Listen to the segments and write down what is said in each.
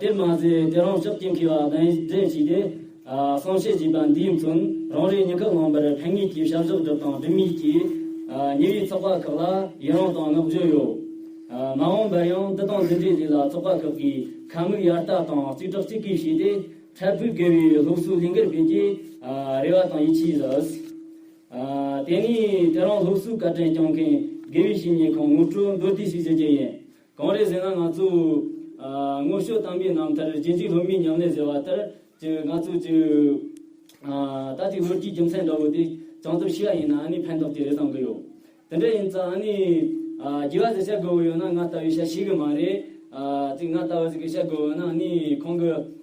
དེར་མ་ཟད་དེ་རང་ཕྱོགས་ཀྱི་འཁེལ་བ་གདན་འདྲེན་བྱས་ཏེ། གསང་བཤད་བྱས་པ་འདིའི་མཚོན་རང་རེའི་ཉིན་ཁག་ལོན་པར་ཕན་ངེས་ཀྱི་བྱ་གཞག་སྒྲུབ་སྟངས་འགྲིམ་ཡིག་གི་ཉེ་བའི་ཚོགས་པ་ཁག་ལ་ཡི་རངས་དང་བསྔགས་བརྗོད་ཡོད། མ་འོངས་པར་ཡང་འདི་དང་འདི་འདྲའི་རིགས་ལ་ཚོགས་པ་ཁག་གིས་ཁ་མིག་ཡར་ལྟ་དང་རྩིས་ཁྲག་རྩིས་ཀིས་བྱས་ཏེ་འཕྲལ་ཕུགས་དགེ་བའི་སློབ་གསོའི་གླིང་གར་ཕེབས་རྒྱའི་རེ་བ་དང་ཡིད་ཆེས་ཡོད། དེ་ནས་དེ་རང་སློབ་གསོའི་བཀའ་དྲིན་བསྐྱངས་མཁན་དགེ་བའི་བཤེས་གཉེན་ཁོང་ངོ་སྤྲོད་མདོར་བསྡུས་ཤིག་བྱེད་ཀྱི་ཡིན། གང་རེད་ཟེར་ན་ང་ཚོས་སྔོན་བཤོལ་བཏང་པའི་རྣམ་ཐར་རྗེ་འཇིགས་སློབ་མའི་ཉམས་ལེན་ཟེར་བ་ལྟར་གྱི་ང་ཚོས་ཀྱི་རྟ་རྩིག་ལྷོད་ཀྱི་རྒྱུ་མཚན་འདྲ་བོ་དེ་བྱང་ཚོར་ཤེས་ཡ་ཡིན་ན་ཨ་ནི་ཕན་ཐོག་དེ་རེ་བཟང་གི་ཡོད། དེ་འདྲ་ཡིན་ཙང་ཨ་ནི་རྒྱལ་བ་ཟེར་བཤད་དགོས་བོ་ཡོད་ན་ང་ལྟ་བུའི་ཤ་ཤེས་གི་མ་རེད། རྩིག་ང་ལྟ་བུ་ཟེར་གི་བཤད་དགོས་བོ་ཡོད་ན་ཨ་ནི་ཁོང་གི།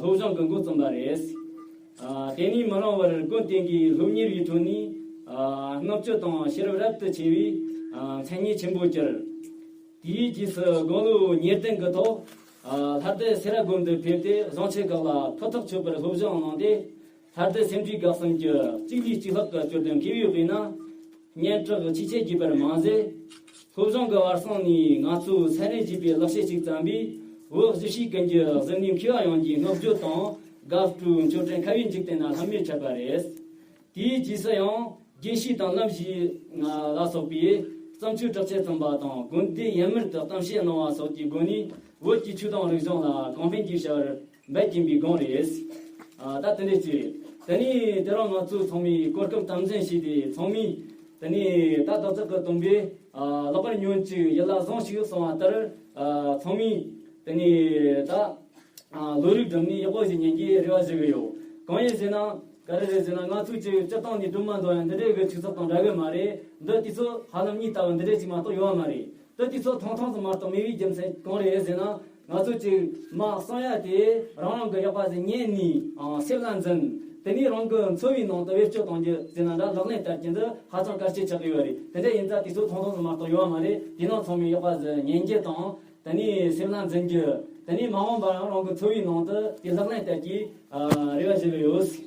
སློབ་སྦྱོང་གི་འགོ་རྩོམ་པ་རེད། དེ་ནི་མི་རུང་བར་ཀུན་བརྟེན་གྱི་སློབ་གཉེར་བའི་ཁྲོད་ནས་མངགས་བཅོལ་དང་ཤེས་རབ་རབ་ཏུ་ཆེ་བའི་མཚན་སྙན་ཆེན་པོ་གྱུར། དེའི་རྗེས་སུ་དགུང་ལོ་ཉེར་བདུན་གྱི་ཐོག་ལྷ་སྟོད་སེ་ར་དགོན་དུ་ཕེབས་ཏེ་བཟང་ཆོས་ཁག་ལ་ཕུ་ཐག་ཆོད་པར་སློབ་སྦྱོང་གནང་སྟེ། ད་ལྟའི་སེམས་འཁྲུག་འགག་སམ་གྱི་གཅིག་ལས་གཅིག་ལྷག་གི་སྐྱོ་དོན་ཁེལ་ཡོད་པས་ན། སྙན་གྲགས་ཆེ་ཆེ་བགྱིས་པར་མ་ཟད། སློབ་སྦྱོང་གི་བར་གསེང་ནས་ང་ཚོས་ཚད་ལེན་བགྱིས་པའི་ལག་ཤེས་ཤིག་བརྩམས་པས་འོད་གཞི་ཞིག་ཀུན་གྱི་གཟི་ནུས་འཁྱིལ་བ་ཡོངས་ཀྱི་བསྔགས་བརྗོད་དང་དགའ་སྤྲོའི་མཆོད་སྤྲིན་ཁ་བའི་འཇིག་རྟེན་ན་ལྷམ་མེར་ཁྱབ་པ་རེད། དེའི་རྗེས་སུ་ཡང་དགེ་བཤེས་དང་བླ་བཞི་ལྔ་ལ་སོགས་པས་བརྩམས་ཆོས་དྲག་ཆས་རྩོམ་པ་དང་དགོན་སྡེ་ཡན་མར་དུ་གཏམ་བཤད་གནང་བ་སོགས་ཀྱི་སྒོ་ནས་བོད་ཀྱི་ཆོས་དང་རིག་གཞུང་ལ་གོང་འཕེལ་གྱི་བྱ་བར་འབད་ཀྱིན་པའི་སྒང་རེད། ད་དེ་འདྲའི་ཚེ། དེ་ནས་དེ་རིང་ང་ཚོས་ཚང་མས་གོ་སྐབས་དམ་འཛིན་བྱས་ཏེ་ཚང་མས། དེ་ནས་ད་ཏག་ཏག་གི་སྟོན་པས་ལག་པར་ཉོན་ཅིག་ཡིད་ལ་བཟང་ཞིག་གསུང་བ་ལྟར། ཚང་མས། དེ་ནས་ད། ལོ་རིགས་སྒྲུབ་ནས་ཡག་པོ་ཞིག་ཉན་གྱི་རེ་བ་བྱེད་ཀྱི་ཡོད། གང་ཡིན་ཟེར་ན། ག་རེ་རེད་ཟེར་ན་ང་ཚོས་ཅིག་སྤྱིར་བཏང་ནས་སྒྲུབ་མ་འདོད་ཡང་འདི་འདྲའི་གི་ཆུ་ཚགས་དང་འདྲ་གི་མ་རེད། འདི་དུས་ཚོད་ཧ་ལམ་གཉིས་ལྟ་བུ་འདི་འདྲའི་ཅིག་མ་གཏོགས་ཡོད་མ་རེད། ད་དུས་ཚོད་ཐུང་ཐུང་དུ་མར་དང་མི་བའི་རྒྱུ་མཚན་གང་རེད་ཟེར་ན། ང་ཚོ་གཅིག་དམག་གསང་ཡག་དེ་རང་རང་གི་ཡག་པ་ཟེར་ཉན་ནས་སེམས་ལ་འཛིན། དེ་ནས་རང་གི་འཚོ་བའི་ནང་དུ་བེད་སྤྱོད་གཏོང་རྒྱུ་ཟེར་ན་འདྲ་ལག་ལེན་བསྟར་རྒྱུ་འདི་ཧ་ཅང་དཀའ་སྤྱད་ཆགས་ཡོད་རེད་དེ་འདྲ་ཡིན་ད་དུས་ཚོད་ཐུང་ཐུང་དུ་མར་དང་ཡོད་བ་མ་རེད་དེས་ན་ཚང་མས་ཡག་པ་ཟེར་ཉན་རྒྱུ་དང། དེ་ནས་སེམས་ལ་འཛིན་རྒྱུ། དེ་ནས་མ་འོངས་པར་རང་གི་འཚོ་བའི་ནང་དུ་དེ་ལག་ལེན་བསྟར་རྒྱུའི་རེ་བ་བྱེད་ཀྱི་ཡོད།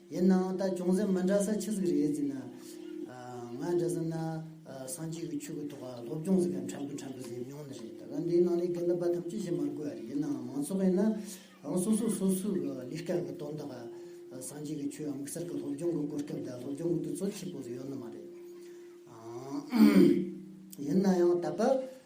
ཡིན་ནའང་ད་ཅུང་ཟད་མི་འདྲ་ས་ཆི་ཟིག་རེད་ཟེར་ན། ང་འདྲ་ཟེར་ན། སངས་རྒྱས་ཀྱི་ཆོས་ཀྱི་ཐོག་སློབ་སྦྱོང་ཟེར་མཁན་ཕྲན་བུ་ཕྲན་བུ་ཟེར་མྱོང་ནི་རེད། ད་ག་འདིའི་ནང་ནས་གན་དུ་འབའ་ཐམས་ཅད་ཤེས་མ་དགོས་རེད་ཡིན་ནའང་མང་ཚོགས་ཡིན་ན། ཨང་སོ་སོས་སོ་སོའི་གི་ལིས་ཀ་གི་དོན་དག་སངས་རྒྱས་ཀྱི་ཆོས་དམིགས་བསལ་གི་སློབ་སྦྱོང་གི་གོ་སྐབས་དང་སློབ་སྦྱོང་གི་དུས་ཚོད་ཆེ་པོ་ཟིག་ཡོད་ནི་མ་རེད། ཡིན་ནའང་ད་བར།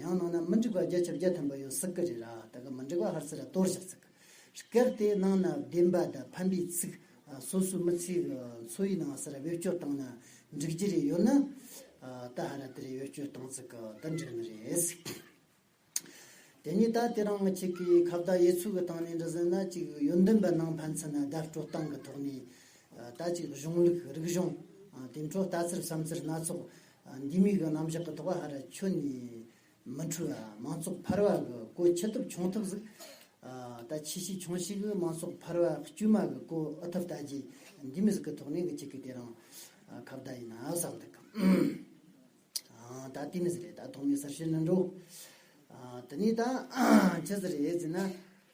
ཡང་ནང་ན་མི་འགྲིག་པ་བརྒྱ་བཅོ་བརྒྱད་ཐོན་པ་ཡོད་སྲིད་ཀི་རེད་ར་ད་གི་མི་འགྲིག་པ་ཧར་སི་ར་གཏོར་བཞག་ཚིག་སྐད་དེ་ནང་ན་བདེན་པ་དང་ཕན་པའི་ཚིག་སོ་སོའི་མི་ཚེའི་འཚོ་བའི་ནང་སི་ར་བེད་སྤྱོད་བཏང་ན་འགྲིག་རྒྱུ་རེད་ཡོད་ན་ད་ཧ་ར་དེ་རེད་བེད་སྤྱོད་བཏང་ཚིག་གི་ད་འགྲིག་ནི་རེད། དེ་ནས་ད་དེ་རང་གཅིག་གི་ཁ་བརྡ་དབྱེ་ཚུལ་གི་སྟངས་ནས་འདྲི་ཟིན་ན་གཅིག་ཡོན་འདོན་པ་ནང་ཕན་ཚུན་ན་བརྡ་སྤྲོད་སྟངས་གི་ཐོག་ནས་ད་གཅིག་གཞུང་ལུགས་རིག་གཞུང་དེ་འཕྲོ་ལྟ་ཚུལ་བསམ་ཚུལ་སྣ་ཚོགས་འདི་མིག་གི་རྣམ་གཞག་གི་ཐོག་ཧ་ར་ཆོས་ནས་མི་འཁྲུལ་བ་མང་ཚོགས་འཕར་བ་གི་སྐོར་ཆེ་ཐུབ་ཆུང་ཐུབ་ཟིག་ད་ཆེས་ཤིག་ཆུང་ཤིག་གི་མང་ཚོགས་འཕར་བ་དཀྱུས་མ་གི་སྐོར་ཨུ་ཐུབ་ལྟ་ཅི་འདི་མི་ཟིག་གི་ཐོག་ནས་གི་ཅིག་གི་དེ་རང་ཁ་བརྡ་ཡིན་ན་བསམ་འདུག་ད་དེ་མི་ཟིག་རེད་ད་ཐོག་མའི་གསར་ཤོས་ནི་འགྲོ་དེ་ནས་ད་ཁྱེད་ཟིག་རེད་ཟེར་ན་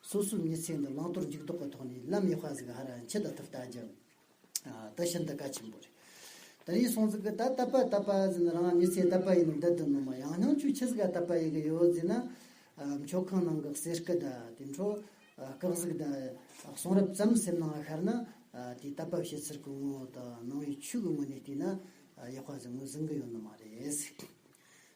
སོ་སོའི་མྱི་ཚེ་འདི་བླང་དོར་འཇུག་ལྡོག་གི་ཐོག་ནས་ལམ་ཡེ་ཤཱི་ཟིག་ཧ་ར་འཆི་ད་ཐུབ་ལྟ་རྒྱུ་འདི་ཤིན་ཏུ་གལ་ཆེན་པོ་རེད། ད་ཡིན་སོང་ཟིག་གི་ད་ལྟ་པ་ལྟ་པ་ཟིན་རང་མྱི་ཚེ་ལྟ་པ་ཡིན་ནོ་འདི་དུ་ནོ་མ་ཡང་སྙིང་ཆུ་འཆི་ཟིག་ག་ལྟ་པ་ཡི་གི་ཡོད་ཟིན་ན་མཆོག་ཁང་ནང་གི་གསེར་སྐུ་ད་དེ་འཕྲོ་བཀག་ཟིག་ད་གསུང་རབ་ཙམ་སེམས་ནང་ཤར་ན་དེ་ལྟ་པ་བྱེད་ཚུལ་གི་ངོ་བོ་དང་ནང་བའི་ཆོས་ཀྱི་ངོས་ནས་བལྟས་ན་ཡེ་ཤཱི་ཟིག་ངོས་ཟིན་གི་ཡོད་ནོ་མ་རེད།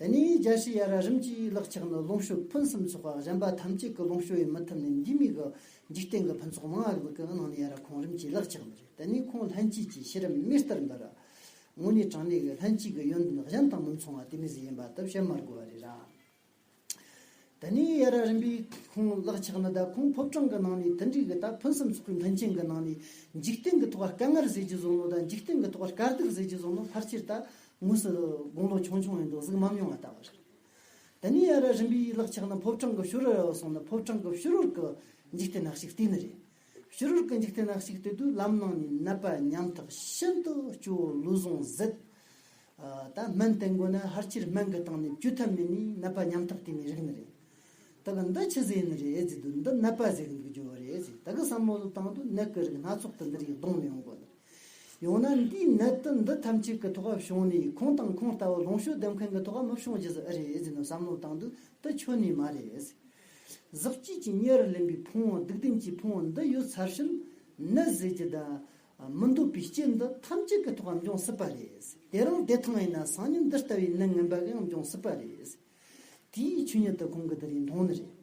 དེ་ནས་རྒྱལ་སྲིད་ཡ་ར་རིམ་གྱིས་བརླག་ཆགས་ནས་ལོངས་སྤྱོད་ཕུན་སུམ་ཚོགས་པ་གཞན་པ་ཐམས་ཅད་ཀྱི་ལོངས་སྤྱོད་ཡི་མི་ཐུབ་ནས་འདི་མིག་གི་འཇིག་རྟེན་གྱི་ཕུན་ཚོགས་མང་ཡང་ལུས་ཀྱི་ནང་ནས་ཡ་ར་ཁོང་རིམ་གྱིས་བརླག་ཆགས་ནི་རེད་དེ་ནས་ཁོང་ལྷན་སྐྱེས་ཀྱི་ཤེས་རབ་མེ་ལྟར་འབར། དངོས་གནས་གྲངས་མེད་ཀྱི་ལྷན་སྐྱེས་ཀྱི་ཡོན་ཏན་གཞན་དང་མི་མཚུངས་བ་དེ་མི་ཟད་ཡིན་པ་དག་བཤད་མ་དགོས་པ་རེད་ར། ད་ནི་ཡ་ར་རིམ་པས་ཁོང་བརླག་ཆགས་ན་ད་ཁོང་ཕོབ་གྲངས་ཀྱི་ནང་ནས་དུད་འགྲིག་གི་ད་ཕུན་སུམ་ཚོགས་པའི་མཐུན་རྐྱེན་གྱི་ནང་ནས་འཇིག་རྟེན་གྱི་ཐོག་ཀ་སྐལ་ངར་ཟེར་གྱི་བཟོ་ལོ་ད་འཇིག་རྟེན་གྱི་ཐོག་ཀ་སྐལ་རྡུལ་ཟེར་གྱི་བཟོ་ལོ་ཕར་ཆེར་ད་དངོས་སུ་དགུང་ལོ་ཆུང་ཆུང་ཡིན་འདུག་གཟུགས་མམ་མྱོང་བ་ལྟ་བུ་རེད། ད་ནི་ཡ་ར་རིམ་པས་བརླག་ཆགས་ན་ཕོབ་གྲངས་ཀྱི་ཤུ་རུ་ར་བ་སོང་ན་ཕོབ་གྲངས་ཀྱི་ཤུ་རུར་གྱི་འཇིག་རྟེན་ནག་ཞིག་བལྟས་ནི་རེད། ཕྱི་རོལ་གྱི་འཇིག་རྟེན་ན་གཅིག་སྟེ་དུས་ལམ་ནང་ནས་ནད་པ་ཉམ་ཐག་ཤིན་ཏུ་སྐྱོ་བོ་ལུས་ཟུངས་བཟེད། ད་སྨན་བསྟེན་དགོས་ན་ཧར་སྤྱིར་སྨན་གྱི་སྟེང་ནས་བཅོས་ཐབས་མེད་ནི་ནད་པ་ཉམ་ཐག་དེ་མི་རིགས་ནི་རེད། ད་གི་འདི་ཕྱི་ཟས་ནི་རེད་ཨེ་ཙི་དུས་འདི་ནད་པ་ཟས་འདུག་འགྱོ་བོ་རེད་ཨེ་ཙི་ད་གི་བསམ་བློ་དང་དུ་ནད་གི་རིགས་སྣ་ཚོགས་དེ་འདིར་ཡིག་གདོང་མི་ཡོང་དགོས་ནི་རེད། ཡང་ན་འདིས་ནད་དུ་འདི་ཐམས་ཅད་ཀྱི་ཐོག་ཨབ་བྱུང་ནས་ཁོང་དང་ཁོང་ལྟ་བུ་ལོངས་ཤོག་ལྡེམ་མཁན་གྱི་ཐོག་ཨམ་ཨབ་བྱུང་རྗེས་སུ་ཨེ་རེད་ཨེ་ཙི་ནི་བསམ་བློ་དང་དུ་འདི་ཆོས་ནི་མ་རེད་ཨེ་ཙི། གཟི་བརྗིད་ཀྱི་གཉེར་ལེན་པའི་ཕུང་བོ་སྡིག་ལྡན་གྱི་ཕུང་བོ་འདི་ཡོད་ཚར་བཞིན་ནད་ཟས་ཀྱི་ཟླ་མི་འདོད་པའི་རྐྱེན་འདི་ཐམས་ཅད་ཀྱི་ཐོག་འབྱུང་སྲིད་པ་རེད། དེ་རིང་བདེ་ཐང་ཡིན་ན་སང་ཉིན་འདི་ལྟ་བུའི་ནད་ངན་པ་གང་འབྱུང་སྲིད་པ་རེད། དེའི་ཆོས་ཉིད་དུ་ཁོང་གི་འདི་རིང་མཐོང་ནི་རེད།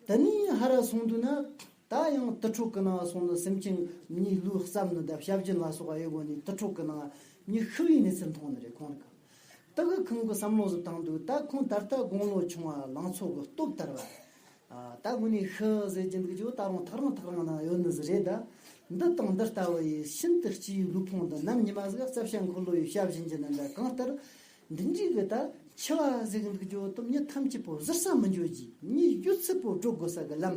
དེ་ནས་ཧ་ར་སོང་དུས་ན་ད་ཡང་དུར་ཁྲོད་ཀྱི་ནང་སོང་ནི་སེམས་ཅན་གཉིས་ཀླུའི་རྩབས་ནི་ཟླ་ཞབས་རྒྱུན་ལ་སོགས་པ་ཡོད་དགོས་ནས་དུར་ཁྲོད་ཀྱི་ནང་གཉིད་ཤི་བའི་གནས་ཚུལ་མཐོང་ནི་རེད་ཁོང་གི་ལྟ་སྐུལ་ཁང་གི་བསམ་བློ་སུ་བཏང་འདུག་ལྟ་ཁུང་ད་ལྟ་དགུང་ལོ་ཆུང་བ་ལང་ཚོ་གི་སྟོབས་ལྟར་བ། ལྟ་སྐུལ་ནི་ཤི་ཟེར་གྱི་འདུག་ཅུ་ལྟ་རུང་ཐག་རིང་ཐག་རིང་ན་ཡོད་ནི་ཟི་རེད་ད། འདི་དང་འདི་ལྟ་བུ་ཡི་ཤིན་ཏུ་སྐྱི་ཡུའི་ལུས་ཕུང་འདི་ནམ་ཉི་མ་ཟིག་རྩབ་ཞྭ་འཁོར་ལོ་ཡི་ཞབས་བཞིན་གྱི་ནི་འདྲ་གང་ལྟར། འདི་འཇིག་གི་ད་འཆི་བ་ཟེར་གི་འདུག་ཅུ་སྟོབས་ཉིད་ཐམས་ཅད་པོ་གཟིར་ས་མི་འགྱུར་གྱི་གཉིས་ཡུལ་ཚིག་པོ་སྒྲོག་དགོས་ས་གི་ལམ།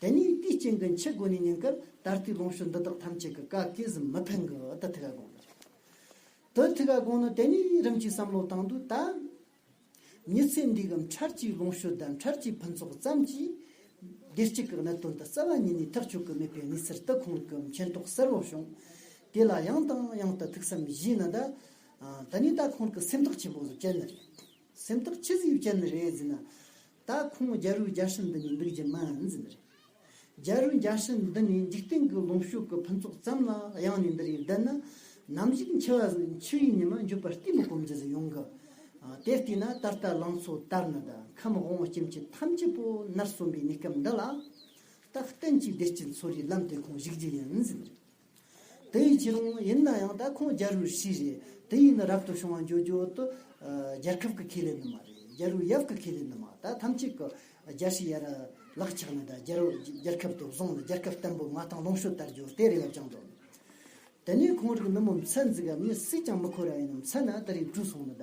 དེ་ནས་དེའི་རྐྱེན་གྱིས་འཆི་སྒོ་ནས་ཉེན་ཀར་ད་ལྟའི་ལོངས་སྤྱོད་འདི་དག་ཐམས་ཅད་ཀྱི་བཀའ་བསྐལ་གཟིམས་མི་ཕན་གི་དུ་ཐུགས་ཀ་དགོངས་ནས་ཅི། དུ་ཐུགས་ཀ་དགོངས་ནས་དེ་ནས་རིམ་གྱིས་བསམ་བློ་བཏང་དུས་ད། མྱི་ཚེ་འདིའི་གམ་འཕྲལ་གྱི་ལོངས་སྤྱོད་དམ་འཕྲལ་གྱི་ཕུན་ཚོགས་ཙམ་གྱིས། བདེ་སྐྱིད་ཀྱི་གནད་དོན་དུ་རྩ་བ་ཉིད་ནས་ཐག་གཅོད་ཀྱི་མེད་པའི་གནས་ཚུལ་དུ་ཁོང་གི་མཁྱེན་རྟོགས་གསལ་བོར་བྱུང། དེ་ལ་ཡང་དང་ཡང་དུ་ཐུགས་བསམ་བཞེས་ན་ད། དེ་ནས་ད་ཁོང་གི་སེམས་ཐག་ཆེན་པོ་བཅད་ནི་རེད། སེམས་ཐག་ཆི་ཟིག་བཅད་ནི་རེད་ཟེར་ན། ད་ཁོང་རྒྱལ་རུས་རྒྱལ་སྲིད་འདི་ནས་འདུག་རྒྱུ་མི་འཛི་མི་རེད། རྒྱལ་རུས་རྒྱལ་སྲིད་འདི་ནས་འཇིག་རྟེན་གི་ལོངས་ཤུགས་ཀི་ཕུན་ཚོགས་ཙམ་ལ་གཡང་ནས་འདི་རེད་འདི་ནི་ནམ་ཞིག་འཆི་བ་ཟིག་འཆི་བའི་ཉི་མ་འཇུག་པར་ལྟས་མི་སྒོམ་རྒྱུ་ཟིག་ཡོང་གི། དེ་ལྟས་ན་ད་ལྟ་ལང་ཚོ་དར་ནི་དང་ཁམས་དབང་བོ་སྐྱེ་མཆེད་ཐམས་ཅད་པོ་ནར་སོན་པའི་གནས་སྐབས་འདི་ལ། ད་གཏན་གྱི་བདེ་སྐྱིད་འཚོ་རིའི་ལམ་དེ་ཁོང་གཞིག་རྒྱུ་ཡིན་འཛི་མི་རེད། དེ་ཡི་ཕྱིར་རུང་ཡིན་ན་ཡང་ད་ཁོང་རྒྱ་རུའི་ཧྲི་རེད་དེ་ཡིན་ན་རབ་ཏུ་བྱུང་བ་མགྱོགས་མགྱོགས་དུ་རྒྱལ་ཁབ་ཀྱི་ཁེ་ལས་ནི་མ་རེད་རྒྱ་རུའི་ཡབ་ཀྱི་ཁེ་ལས་ནི་མ་ད་ཐམས་ཅད་ཀྱི་རྒྱ་ཧྲི་ཡར་ལག་ཆགས་ནས་ད་རྒྱ་རུ་རྒྱལ་ཁབ་དུ་བཟུང་ནས་རྒྱལ་ཁབ་བརྟན་པོ་མ་ཐང་ལོངས་ཤོད་དར་རྒྱུ་དེ་རེད་ཡབ་ཅང་འདོད་དེ་ནས་ཁོང་རིགས་མི་མོ་མཚན་འཛིག་ག་མི་སུས་ཀྱང་མི་ཁོ་ར་ཡིན་མཚན་ན་ད་རིགས་དྲུག་སོང་ནས་ད་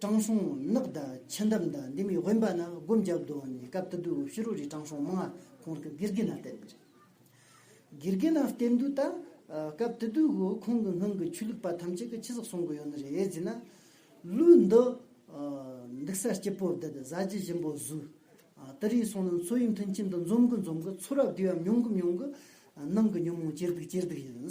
དྲང་སྲོང་ནགས་དང་ཆེན་འདམ་དང་འདི་མི་དབེན་པ་ན་སྒོམ་རྒྱབ་རྡོ་ནི་སྐབས་དུ་དུ་ཕྱི་རོལ་གྱི་དྲང་སྲོང་མང་ཁོང་གི་དགེ་རྒན་ན་བསྟེན་པ་རེད། དགེ་རྒན་ན་བསྟེན་དུས་ད་སྐབས་དུ་དུ་གུ་ཁོང་གི་སྔོན་གྱི་ཆོས་ལུགས་པ་ཐམས་ཅད་ཀྱི་ཁྱི་ཟག་སྲུང་གི་ཡོད་ནི་རེད་ཟེར་ན། ལུས་འདི་འདུག་ས་སྐྱིད་པོ་འདི་གཟའ་རྗེ་གཞན་པོ་གཟུགས་ལྟ་རིས་སོང་ནི་འཚོ་ཡི་མཐུན་རྐྱེན་དུ་འཛོམས་གི་འཛོམས་གི་ཚོ་རབས་དུས་ཡབ་མྱོང་གི་མྱོང་གི་ནང་གི་ཉོན་མོངས་སྐྱེར་སྡུག་སྐྱེར་སྡུག་ཡིན།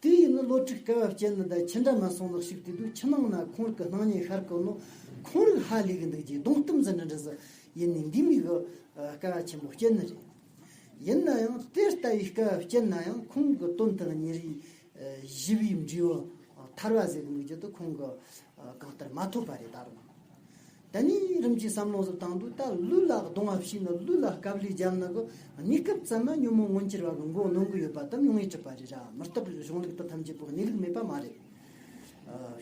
དེ་ཡིན་ནི་ལོ་དྲུག་སྐལ་བ་སྐྱེལ་ནི་འདི་ཁྱི་འདྲ་མ་སོང་ལགས་ཤིག་དུས་དུས་ཁྱི་ནང་ན་ཁོང་རིགས་ཀྱི་སྣང་བརྙན་ཤར་གི་ནོ། ཁོང་རིགས་ཧ་ལས་གི་འདུག་ཅེས་གདོང་གཏུམ་ཙི་འདྲི་འདྲི་ཟེར། ཡིན་ནའི་འདི་མིག་གི་སྐལ་བ་ཆེན་པོ་སྐྱེལ་ནི་རེད། ཡིན་ན་ཡང་དེ་ལྟ་བུའི་སྐལ་བ་སྐྱེལ་ན་ཡང་ཁོང་གི་སྟོན་དང་ཉིན་རེའི་བཞི་པའི་འབྲས་བུ་ཐར་བ་ཟེར་གི་འདུག་ཅེས་དུས་ཁོང་གི་གང་ལྟར་མ་ཐོབ་པ་རེད་ད་རུང། ད་ནི་རིམ་གྱིས་སམ་ལོངས་སུ་བཏང་དུ་ད་ལུས་ལ་གདུང་བ་བྱིན་ནོ་ལུས་ལ་སྐབས་ལུས་འཇམ་ནག་གི་གནས་སྐབས་ཙམ་ན་ཉོན་མོངས་མངོན་གྱུར་བ་གི་མགོ་གནོན་གི་ཡོད་པ་དང་ཉུང་ངེས་སྤྲོས་པ་རེ་ར་མི་རྟག་པའི་གཞུང་ལུགས་དང་ཐམས་ཅད་པོ་གནས་ལུགས་མེད་པ་མ་རེད།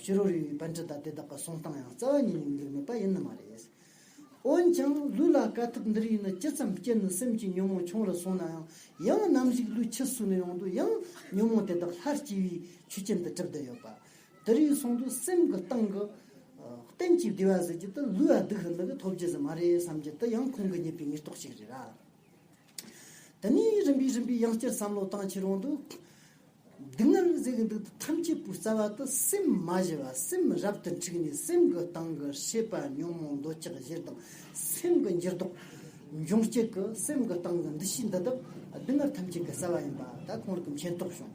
ཕྱི་རོལ་རིགས་པའི་བན་ཁྲི་དང་དེ་དག་གི་གསུང་སྟངས་ཡང་རྩ་བ་ཉིད་ནས་ལུགས་མེད་པ་ཡིན་ནི་མ་རེད། འོན་ཀྱང་ལུས་ལ་དཀའ་ཐུབ་འདིར་ཡོད་ནི་ཇི་ཙམ་སྐྱེས་ནི་སེམས་ཀྱི་ཉོན་མོངས་ཆུང་རུ་སོང་ན་ཡང་ཡང་ནམ་ཞིག་ལུས་ཕྱི་སུ་ནས་ཡོང་དུས་ཡང་ཉོན་མོངས་དེ་དག་ལྷར་སྐྱེ་བའི་ཆོས་ཅན་དུ་གྲུབ་བསྡད་ཡོད་པ་དེ་རིང་གསུང་དུ་སེམས་ཀྱི་སྟེང་གི། གཏན་གྱི་བདེ་བ་ཟེར་གྱི་དེ་ལུས་ཡང་སྡུག་ཧེ་ནི་གི་ཐོབ་རྒྱུ་ཟེར་མ་རེད་བསམ་གྱི་དེ་ཡང་ཁོང་གི་ཉེས་པའི་ཉེར་གཏོགས་ཤིག་རེད་ར། དེ་ནས་རིམ་པས་རིམ་པས་ཡང་བསྐྱར་བསམ་བློ་བཏང་ཕྱིར་རོང་དུ། སྡུག་བསྔལ་ཟེར་གྱི་འདུག་དེ་ཐམས་ཅད་པོའི་རྩ་བ་དེ་སེམས་མ་བཞི་བ་སེམས་རབ་ཏུ་འཁྲིགས་ནས་སེམས་ཀྱི་སྟེང་གི་ཤེས་པ་ཉོན་མོངས་འདོད་ཆགས་བཞིར་དང་སེམས་ཀྱི་འགྱུར་ལྡོག། འབྱུང་སྐྱེད་ཀྱི་སེམས་ཀྱི་སྟེང་གི་འདུ་ཤེས་འདི་དག་སྡུག་བསྔལ་ཐམས་ཅད་ཀྱི་རྩ་བ་ཡིན་པ་ད་ཁོང་རིགས་མཁྱེན་རྟོགས་བྱུང།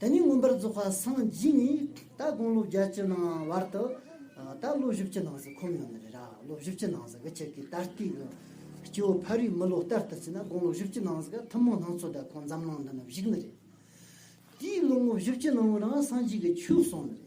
དེ་ནས་མངོན་པར་རྫོགས་པ་སངས་རྒྱས་ནས་ད་དགུང་ལོ་བརྒྱད་ཅུ་ནང་བར་དུ། ད་ལོ་བཞི་བཅུ་ནང་ཟིག་ཁོམ་ཡོང་ནི་རེད་ར་ལོ་བཞི་བཅུ་ནང་ཟིག་ཁྱེད་ཀྱི་ད་ལྟའི་གི་སྐྱེ་བོ་ཕ་རིའི་མི་ལོ་ལྟར་དུ་བྱས་ན་དགུང་ལོ་བཞི་བཅུ་ནང་ཟིག་ཐུན་མོང་སྣང་ཚོད་ད་ཁོང་འཛམ་གླིང་འདི་ན་བཞུགས་ནི་རེད། དེའི་ལོ་ངོ་བཞི་བཅུ་ནང་བོ་ན་སངས་རྒྱས་ཀྱི་ཆོས་གསུངས་ནི་རེད།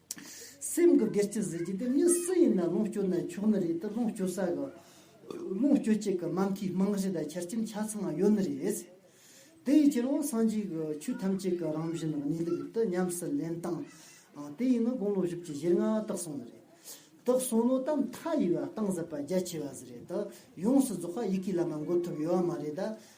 སེམས་ཀྱི་སྒེར་གྱི་གཟི་བརྗིད་དེ་མི་སུ་ཡིན་ན་ལོངས་སྤྱོད་ན་ཆོག་ནི་རེད་དེ་ལོངས་སྤྱོད་ས་གི་ལོངས་སྤྱོད་ཅིག་གི་ནམ་མཁའི་རྨང་གཞི་དང་ཆར་སྐྱེམས་ཆ་ཚང་ཡོད་ནི་རེད། དེའི་ཕྱིར་འོ་སངས་རྒྱས་ཀྱི་ཆོས་ཐམས་ཅད་ཀྱི་རང་བཞིན་ནི་གནས་ལུགས་དེ་ཉམས་སུ་ལེན་སྟངས་དེ་ཡིན་ནི་དགུང་ལོ་བཞི་བཅུ་བཞིར་སྔ་རྟགས་གསུངས་ནི་རེད། དེ་གསུངས་ནོ་དམ་མཐའ་ཡི་བ་གཏང་ཟེར་པ་རྒྱ་ཆེ་བ་ཟེར་རེད་དེ་ཡོངས་སུ་རྫོགས་པ་ཡི་གེ་ལ་མ་འགོད་ཐུབ་ཡོད་བ་མ་རེད།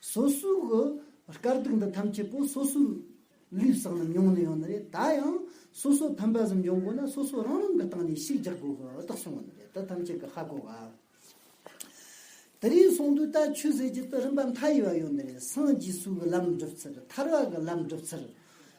སོ་སོའི་གི་དཀར་དུག་འདི་ཐམས་ཅད་པོ་སོ་སོའི་ལུས་བསགས་རྣམས་མྱོང་ནི་ཡོང་ནི་རེད་ད་ཡང་སོ་སོའི་ཕན་པ་གསུམ་འབྱུང་དགོས་ན་སོ་སོ་རང་རང་གི་སྟེང་ནས་ཤིག་རྒྱག་དགོས་གི་རྟགས་བྱུང་བ་ནི་རེད་དེ་ཐམས་ཅད་གི་ཧ་གོ་ག། དེ་རིང་གསུང་དུས་ལྟར་ཆོས་ཟེར་གྱི་དུས་རིམ་པ་མཐའ་ཡས་པ་ཡོད་ནི་རེད་སངས་རྒྱས་སུ་གི་ལམ་བསྒྲུབ་ཚུལ་ཐར་བ་གི་ལམ་བསྒྲུབ་ཚུལ།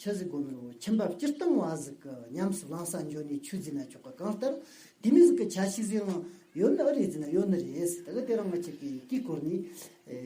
ཆ་གཟིགས་སྒོ་མོའི་འོག་ཁྱིམ་བབས་སྤྱིར་བཏང་བ་གཟིགས་ཀྱི་ཉམས་སུ་བླངས་བསང་སྦྱོར་ནི་ཆུ་འཛིན་ན་ཆོག་གི་གང་ལྟར་དེ་མི་གཟིགས་ཀྱི་ཆ་ཞིག་གཟིགས་ན་ཡོད་ནི་ཨ་རེ་འཛིན་ན་ཡོད་ནི་རེད། ད་གི་དེ་རང་མ་བྱེད་ཀྱི་དཀྱིལ་འཁོར་ནི།